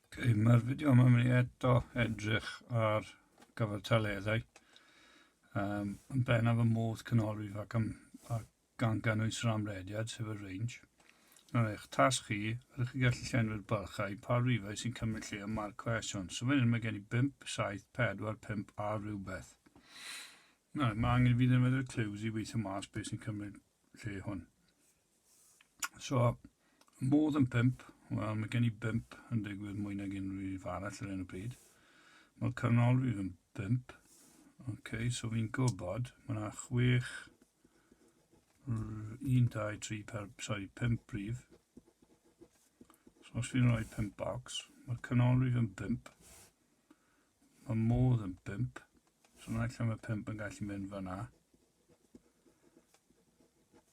Okay, mae'r fideo yma mynd i eto edrych ar gyfartaleddau um, yn bennaf y modd canolrif ac, am, ac gan gynnwys yr amrediad, sef y range. Nawr eich tasg chi, ydych chi gallu llenwi'r bylchau pa rifau sy'n cymryd lle ym mae'r cwestiwn. So fan hyn mae gen i 5, 7, 4, 5 a rhywbeth. Nawr, mae angen i fi ddefnyddio'r clues i weithio mas beth sy'n cymryd lle hwn. So, modd yn pimp, wel, mae gen i bimp yn digwydd mwy nag unrhyw un arall ar hyn o bryd. Mae canolrif yn bimp. OK, so fi'n gwybod, mae yna chwech, un, dau, tri, per, sorry, pimp brif. So os fi'n rhoi pimp box, mae'r canolrif yn bimp. Mae modd yn bimp. So na allan mae pimp yn gallu mynd fyna.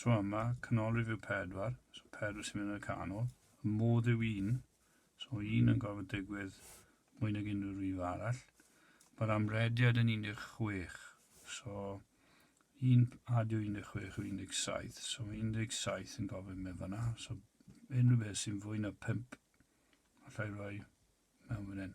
Tro yma, canolrif yw pedwar, so pedwar sy'n mynd yn y canol. Y modd yw un, so un yn gorfod digwydd mwy nag unrhyw rif arall. Mae'r amrediad yn 16, so un adio 16 yw 17, so mae 17 yn gofyn mynd fanna, so unrhyw beth sy'n fwy na 5, allai roi mewn fan hyn.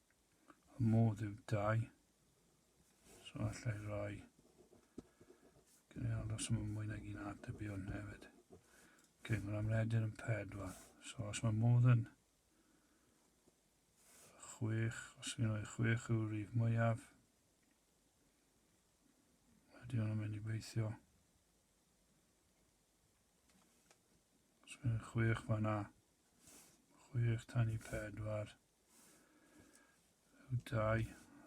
y modd yw dau. So allai roi gynnal os mae mwy nag un atebion hefyd. Ok, mae'n amredir yn pedwar. So os mae modd yn chwech, os ydyn nhw'n chwech yw'r rif mwyaf, ydy hwnna'n mynd i beithio. Os ydyn nhw'n chwech fanna, chwech tan i pedwar, Dau.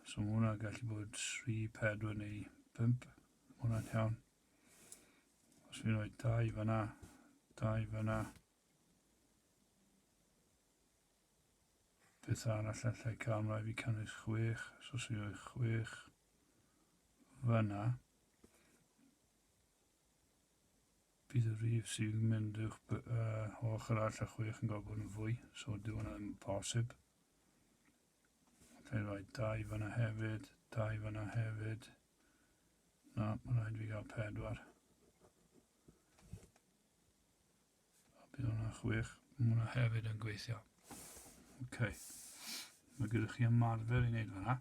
So mae hwnna gallu bod 3, 4 neu 5. Mae hwnna'n iawn. Os fi'n rhoi dau fyna, dau fyna. Beth arall allai cael ymlaen fi cynnwys 6, so os fi'n rhoi 6 fyna. Bydd y rhif sy'n mynd uwch by, uh, o ochr arall a chwech yn cael bod yn fwy, so dyw hwnna ddim yn posib. Fe rhaid dau fyna hefyd, dau fyna hefyd. Na, mae'n rhaid fi gael pedwar. A bydd hwnna chwech. Mae hwnna hefyd yn gweithio. Oce. Okay. Mae gyda chi ymarfer i wneud fanna.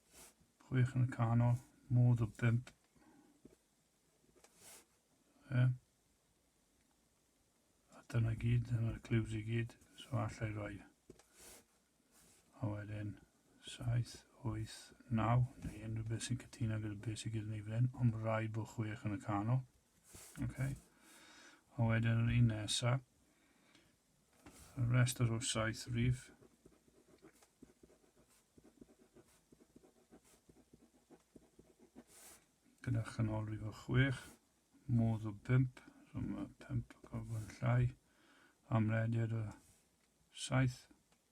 Chwech yn y canol, modd o bimp. E. A dyna gyd, dyna'r cliws i gyd, so allai roi. A wedyn, 7, 8, 9, neu unrhyw beth sy'n cytuno gyda beth sy'n gyda ni fan hyn, ond rai bod chwech yn y canol. Okay. A wedyn yr un nesaf, Y rhestr o saith rif. Gyda chanolrif o chwech, modd o bimp, so mae pimp o gorfod llai, amlediad o saith,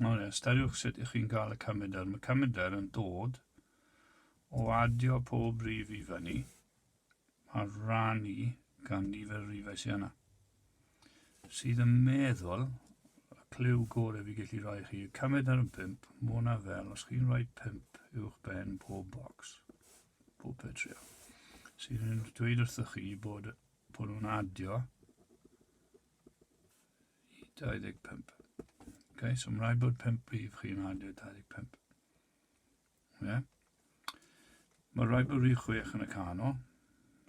Nawr, ystyriwch sut ych chi'n cael y cymedr. Mae cymedr yn dod o adio pob rif i fyny a rannu gan nifer y rifau sydd yna. Sydd yn meddwl, y clyw gorau fi gallu rhoi chi, y cymedr yn 5, mae hwnna fel os chi'n rhoi 5 uwch ben pob bocs, pob petrio. Sydd yn dweud wrthych chi bod, bod nhw'n adio 25. Okay, so mae'n rhaid bod 5 rhif chi'n adio 25. Yeah. Mae rhaid bod rhif 6 yn y canol.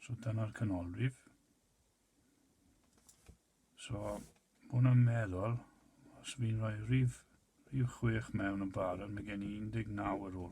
So dyna'r canolrif. So, hwn yn meddwl, os fi'n rhoi rhif, rhif 6 mewn yn barod, mae gen i 19 ar ôl.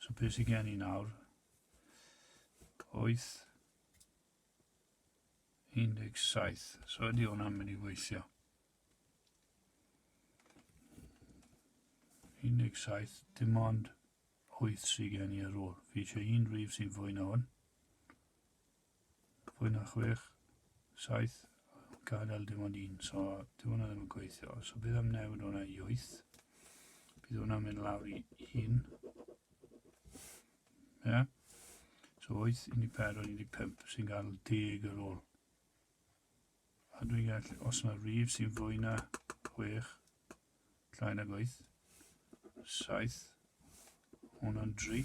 So beth sy'n gen i nawr? 8 17. So ydy hwnna'n mynd i weithio. 17, dim ond 8 sy'n gen i ar ôl. Fi eisiau un rif sy'n fwy na hwn. fwy na chwech, saith yn gadael dim ond un, so dyw hwnna ddim yn gweithio. So bydd am newid hwnna i wyth. Bydd hwnna'n mynd lawr i un. Ie? Yeah? So wyth, un i pedwar, un i pump sy'n gael deg ar ôl. A dwi'n gallu, os yna rif sy'n fwy na chwech, llai na gweith, saith, hwnna'n dri,